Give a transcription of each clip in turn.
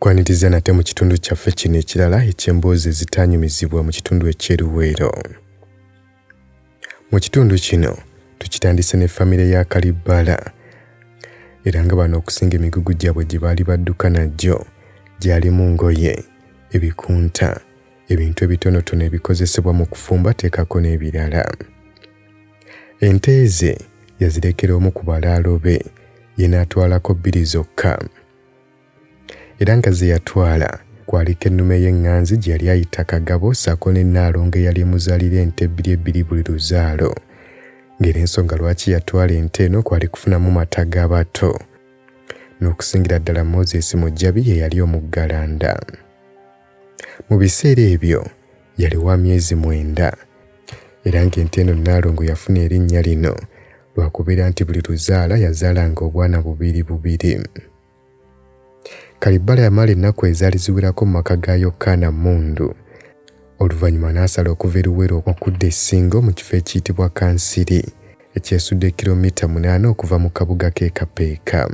kwaniriza nate mu kitundu kyaffe kino ekirala eky'emboozi ezitaanyumizibwa mu kitundu eky'eruweero mu kitundu kino tukitandise ne famire ya kalibbala era nga bano okusinga emigugu gyabwe gye baali badduka nagyo gyalimu ngoye ebikunta ebintu ebitonotono ebikozesebwa mu kufumba teekako n'ebirala ente ze yazirekera omu ku balaalo be ye n'atwalako bbiri zokka era nga ze yatwala kwaliko ennume y'eŋŋanzi gye yali ayita kagabo ssaako ne nnaalongo eyali emuzaalira ente ebbiri ebbiri buli luzaalo ng'era ensonga lwaki yatwala ente eno kwali kufunamu mata g'abato n'okusingira ddala moses mujjabi ye yali omuggalanda Mu biseera ebyo yali wa myezi mwenda era ng'ente eno Nnaalongo yafuna erinnya lino lwa kubeera nti buli luzaala yazaalanga obwana bubiri bubiri. Kalibbala yamala ennaku ezaali ziwerako mu maka ga Yokkaana Mmundu oluvannyuma n'asala okuva e Luwero okudda e Ssingo mu kifo ekiyitibwa Kansiri ekyesudde kiromita munaana okuva mu kabuga k'e Kapeeka.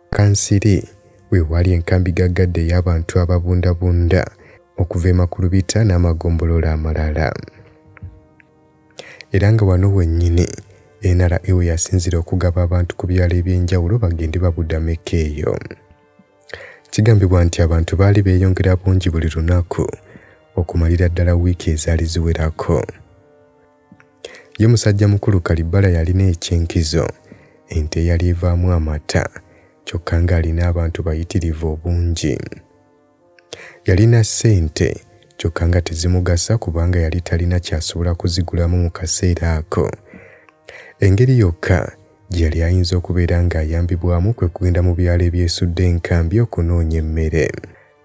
Kansiri we waali enkambi gaggadde ey'abantu ababundabunda okuva e Makulubita n'amagombolola amalala. Era nga wano wennyini NRA we yasinzira okugaba abantu ku byalo eby'enjawulo bagende babudameko eyo. Kigambibwa nti abantu baali beeyongera bungi buli lunaku okumalira ddala wiiki ezaali ziwerako. Ye musajja mukulu Kalibbala yalina eky'enkizo, ente eyali evaamu amata, kyokka ng'alina abantu bayitirivu obungi. Yalina ssente kyokka nga tezimugasa kubanga yali talina ky'asobola kuzigulamu mu kaseera ako. Engeri yokka gye yali ayinza okubeera ng'ayambibwamu kwe kugenda mu byalo ebyesudde enkambi okunoonya emmere.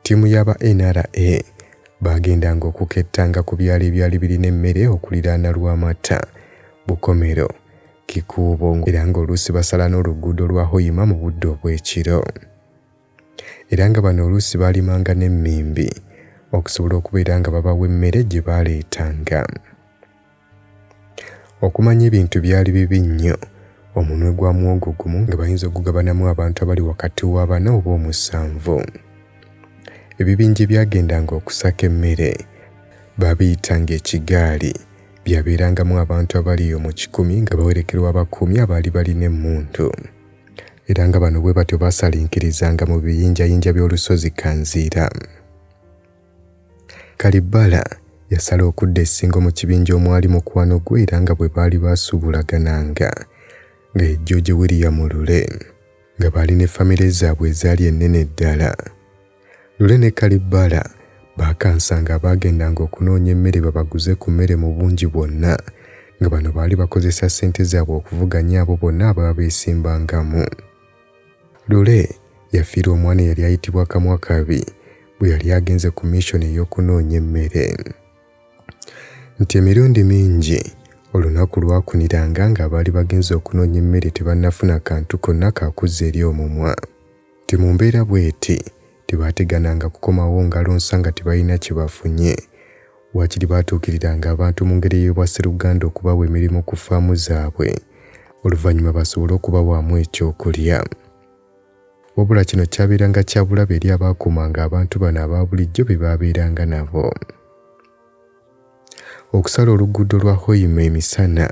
Ttiimu y'aba NRA baagendanga okukettanga ku byalo ebyali birina emmere okuliraana Lwamatta, Bukomero, Kikuubo era ng'oluusi basala n'oluguudo lwa Hoima mu budde obw'ekiro. Era nga bano oluusi baalimanga n'emmimbi okusobola okubeera nga babawa emmere gye baaleetanga. Okumanya ebintu byali bibi nnyo, omunwe gwa muwogo gumu nga bayinza okugabanamu abantu abali wakati wa bana oba omusanvu. Ebibinja ebyagendanga okusaka emmere baabiyitanga ekigaali. Byabeerangamu abantu abali omu kikumi nga bawerekerwa abakuumi abaali balina emmundu. Era nga bano bwe batyo baasalinkirizanga mu biyinjayinja by'olusozi Kanziira. Kalibbala yasala okudda e Ssingo mu kibinja omwali mukwano gwe era nga bwe baali baasuubulagananga nga ye George William Lule nga baali ne famire zaabwe ezaali ennene ddala. Lule ne Kalibbala baakansanga abaagendanga okunoonya emmere babaguze ku mmere mu bungi bwonna nga bano baali bakozesa ssente zaabwe okuvuganya abo bonna ababa beesimbangamu. Lule yafiirwa omwana eyali ayitibwa Kamwakabi bwe yali agenze ku mission ey'okunoonya emmere. Nti emirundi mingi olunaku lwakuniranga ng'abaali bagenze okunoonya emmere tebannafuna kantu konna ka kuzza eri omumwa. Nti mu mbeera bw'eti, tebaategananga kukomawo ngalo nsa nga tebalina kye bafunye. Waakiri baatuukiriranga abantu mu ngeri ey'obwa sseruganda okubawa emirimu ku ffaamu zaabwe oluvannyuma basobole okubawaamu ekyokulya. Wabula kino kyabeeranga kya bulabe eri abaakuumanga abantu bano aba bulijjo be baabeeranga nabo. Okusala oluguudo lwa Hoima emisana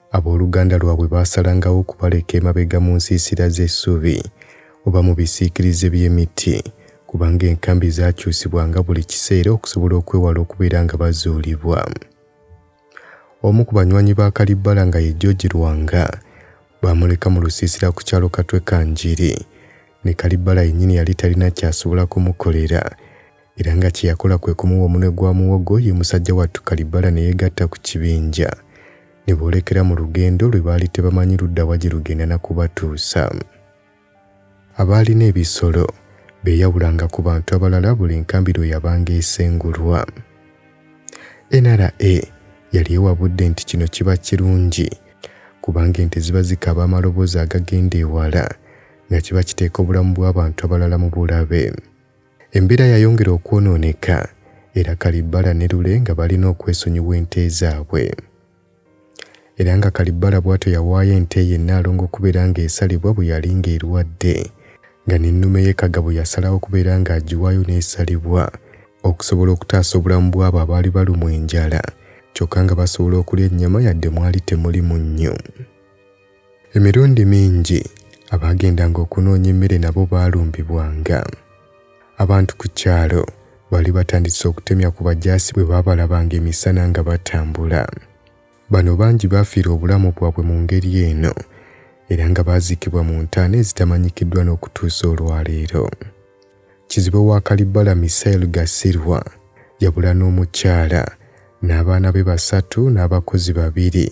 Ab'oluganda lwabwe baasalangawo okubaleka emabega mu nsiisira z'essubi oba mu bisiikirize by'emiti, kubanga enkambi zaakyusibwanga buli kiseera okusobola okwewala okubeera nga bazuulibwa. Omu ku banywanyi ba Kalibbala nga ye George Lwanga baamuleka mu lusiisira ku kyalo Katwe Kanjiri ne Kalibbala yennyini yali talina kyasobola kumukolera era nga kye yakola kwe kumuwa omunwe gwa muwogo ye musajja wattu Kalibbala ne yeegatta ku kibinja ne boolekera mu lugendo lwe baali tebamanyi ludda wa gye lugenda na kubatuusa. Abaalina ebisolo beeyawulanga ku bantu abalala buli nkambi lwe yabanga esengulwa. NRA yali ewabudde nti kino kiba kirungi kubanga ente ziba zikaaba amaloboozi agagenda ewala nga kiba kiteeka obulamu bw'abantu abalala mu bulabe. Embeera yayongera okwonooneka era Kalibbala ne Lule nga balina okwesonyiwa ente zaabwe. Era nga Kalibbala bw'atyo yawaayo ente ye Nnaalongo okubeera ng'esalibwa bwe yali ng'erwadde nga n'ennume ye Kagabo yasalawo okubeera ng'agiwaayo n'esalibwa okusobola okutaasa obulamu bw'abo abaali balumwa enjala kyokka nga basobola okulya ennyama yadde mwali temuli munnyo. Emirundi mingi abaagendanga okunoonya emmere nabo baalumbibwanga. Abantu ku kyalo baali batandise okutemya ku bajaasi bwe baabalabanga emisana nga batambula. Bano bangi baafiira obulamu bwabwe mu ngeri eno era nga baaziikibwa mu ntaana ezitamanyikiddwa n'okutuusa olwaleero. Kizibwe wa Kalibala Misael Gasirwa yabula n'omukyala n'abaana be basatu n'abakozi babiri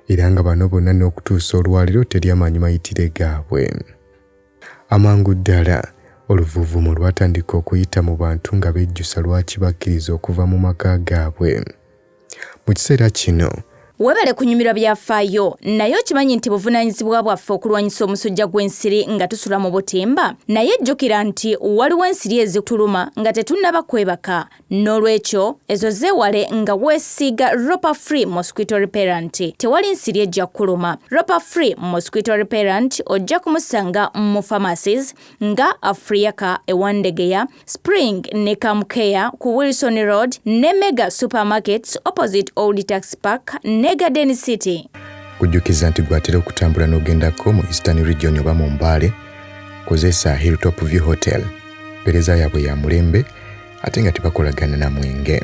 era nga bano bonna n'okutuusa olwaliro teri amanyi mayitire gaabwe. Amangu ddala oluvuvumo lwatandika okuyita mu bantu nga bejjusa lwaki bakkiriza okuva mu maka gaabwe. mu kiseera kino. Webale kunyumirwa byafaayo, naye okimanyi nti buvunaanyizibwa bwaffe okulwanyisa omusujja gw'ensiri nga tusula mu butimba? Naye jjukira nti waliwo ensiri ezituluma nga tetunnaba kwebaka. N'olwekyo, ezo zeewale nga weesiiga Ropa Free Mosquito Repellent. Tewali nsiri ejja kukuluma. Ropa Free Mosquito Repellent ojja kumusanga mu pharmacies nga Afriaca e Wandegeya, Spring ne Camcare ku Wilson Road ne Mega Supermarkets opposite Old Tax Park ne Garden City. Kujjukiza nti gwatera okutambula n'ogendako mu Eastern Region oba mu Mbale, kozesa Hilltop View Hotel. Mpereza yaabwe ya mulembe ate nga tebakolagana na mwenge.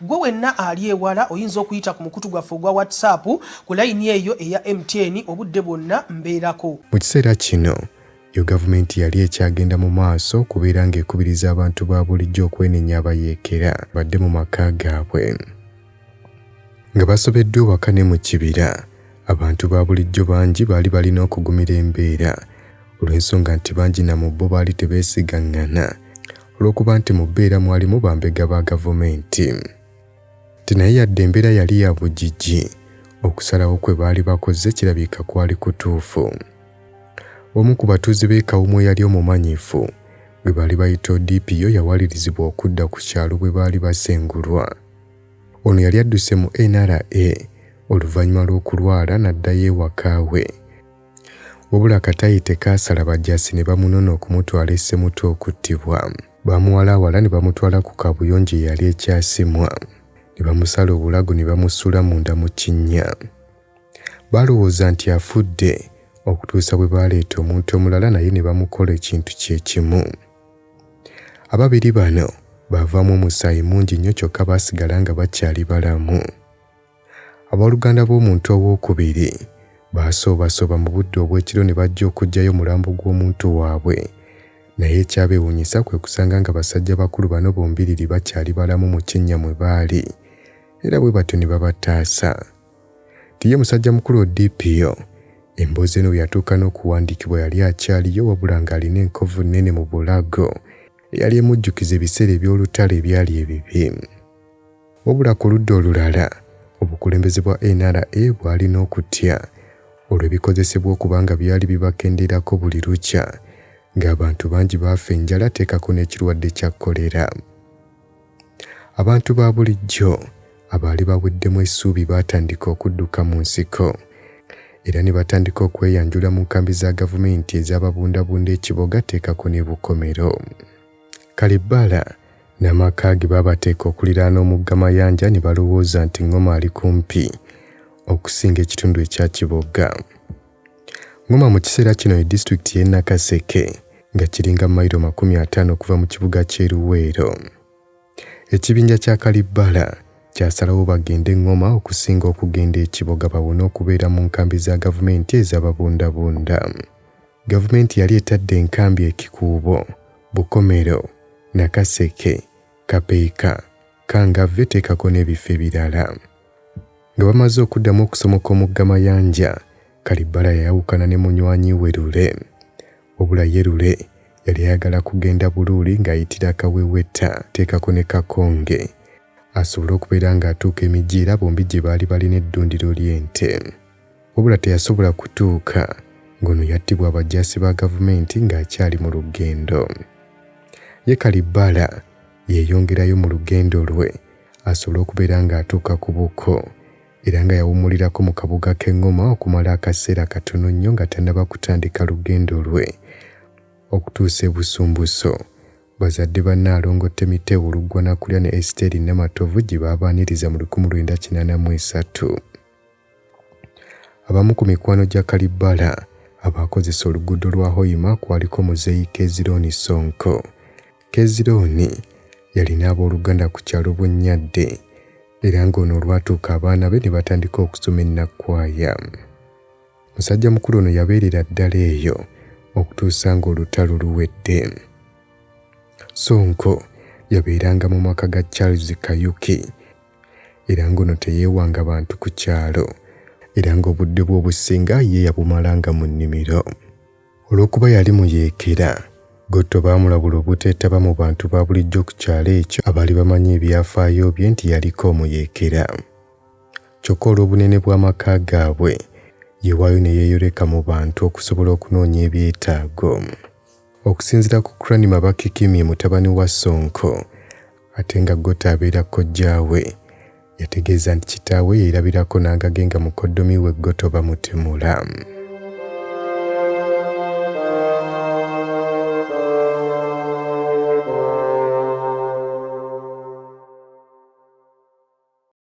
Gwe wenna ali ewala oyinza okuyita ku mukutu gwaffe ogwa WhatsApp ku layini eyo eya MTN obudde bwonna mbeerako. Mu kiseera kino, yo gavumenti yali ekyagenda mu maaso okubeera ng'ekubiriza abantu ba bulijjo okwenenya abayeekera badde mu maka gaabwe. Nga basobeddwa ewaka ne mu kibira, abantu ba bulijjo bangi baali balina okugumira embeera olw'ensonga nti bangi na mu bo baali tebeesigaŋŋana. olw'okuba nti mu bbeera mwalimu bambega ba gavumenti nti naye yadde embeera yali ya bugigi okusalawo kwe baali bakoze kirabika kwali kutuufu omu ku batuuze b'e kawumu eyali omumanyifu gwe baali bayita odipiyo yawalirizibwa okudda ku kyalo bwe baali basengulwa ono yali adduse mu nra oluvannyuma lw'okulwala n'addayo ewakaawe Wabula akatayi tekaasala bajaasi ne bamunona okumutwala e Ssemuto okuttibwa. Baamuwalaawala ne bamutwala ku kaabuyonjo eyali e Kyasimwa ne bamusala obulago ne bamusuula munda mu kinnya. Baalowooza nti afudde okutuusa bwe baaleeta omuntu omulala naye ne bamukola ekintu kye kimu. Ababiri bano baavaamu omusaayi mungi nnyo kyokka baasigala nga bakyali balamu. Abooluganda b'omuntu owookubiri baasoobasooba mu budde obw'ekiro ne bajja okuggyayo omulambo gw'omuntu waabwe. Naye ekyabeewuunyisa kwe kusanga nga basajja bakulu bano bombiriri bakyali balamu mu kinnya mwe baali era bwe batyo ne babataasa. Nti ye musajjamukulu Odipio, emboozi eno bwe yatuuka n'okuwandiikibwa yali akyaliyo wabula ng'alina enkovu nnene mu bulago eyali emujjukiza ebiseera eby'olutalo ebyali ebibi. Wabula ku ludda olulala, obukulembeze bwa NRA bwalina okutya olw'ebikozesebwa okuba nga byali bibakendeerako buli lukya ng'abantu bangi baafa enjala teekako n'ekirwadde kya kkolera. Abantu ba bulijjo abaali baweddemu essuubi baatandika okudduka mu nsiko era ne batandika okweyanjula mu nkambi za gavumenti ez'ababundabunda e Kiboga teekako ne Bukomero. Kalibbala n'amaka ge baabateeka okuliraana omugga Mayanja ne balowooza nti Ngoma ali kumpi okusinga ekitundu ekya Kibogga. Ngoma mu kiseera kino ye disitulikiti y'e Nakaseke nga kiringa mayiro makumi ataano okuva mu kibuga ky'e Luweero. Ekibinja kya Kalibbala kyasalawo bagende e Ngoma okusinga okugenda e Kiboga bawone okubeera mu nkambi za gavumenti ezababundabunda. Gavumenti yali etadde enkambi e Kikuubo, Bukomero, Nakaseke, Kapeeka, Kangavve teekako n'ebifo ebirala. Nga bamaze okuddamu okusomoka omugga Mayanja, Kalibbala yayawukana ne munywanyi we Lule. Wabula ye Lule yali ayagala kugenda Buluuli ng'ayitira Kawewetta teekako ne Kakonge asobole okubeera ng'atuuka e Mijiira bombi gye baali balina eddundiro ly'ente. wabula teyasobola kutuuka ng'ono yattibwa abajaasi ba gavumenti ng'akyali mu lugendo. Ye Kalibbala yeeyongerayo mu lugendo lwe asobole okubeera ng'atuuka ku buko era nga yawummulirako mu kabuga k'e Ngoma okumala akaseera katono nnyo nga tannaba kutandika lugendo lwe okutuusa e Busumbuso bazadde ba Nnaalongo Temiteewo Luggwanakulya ne Esiteeri Namatovu gye baabaaniriza mu lukumi lwenda kinaana mu esatu. Abamu ku mikwano gya Kalibbala abaakozesa oluguudo lwa Hoima kwaliko muzeeyi Kezirooni Ssonko. Kezirooni yalina abooluganda ku kyalo Bunnyadde era ng'ono olwatuuka abaana be ne batandika okusoma e Nakwaya. Musajjamukulu ono yabeerera ddala eyo okutuusa ng'olutalo luwedde. Ssonko yabeeranga mu maka ga Charles Kayuki era ng'ono teyeewanga bantu ku kyalo era ng'obudde bwe obusinga ye yabumalanga mu nnimiro. Olw'okuba yali muyeekera, Gotto baamulabula obuteetaba mu bantu ba bulijjo ku kyalo ekyo abaali bamanyi ebyafaayo bye nti yaliko omuyeekera. Kyokka olw'obunene bw'amaka gaabwe, yewaayo ne yeeyoleka mu bantu okusobola okunoonya ebyetaago. Okusinzira ku Cranmer Bakikimye mutabani wa Ssonko, ate nga Gota abeera kojjaawe. Yategeeza nti kitaawe yeerabirako n'angage nga mukoddomi we Goto bamutemula.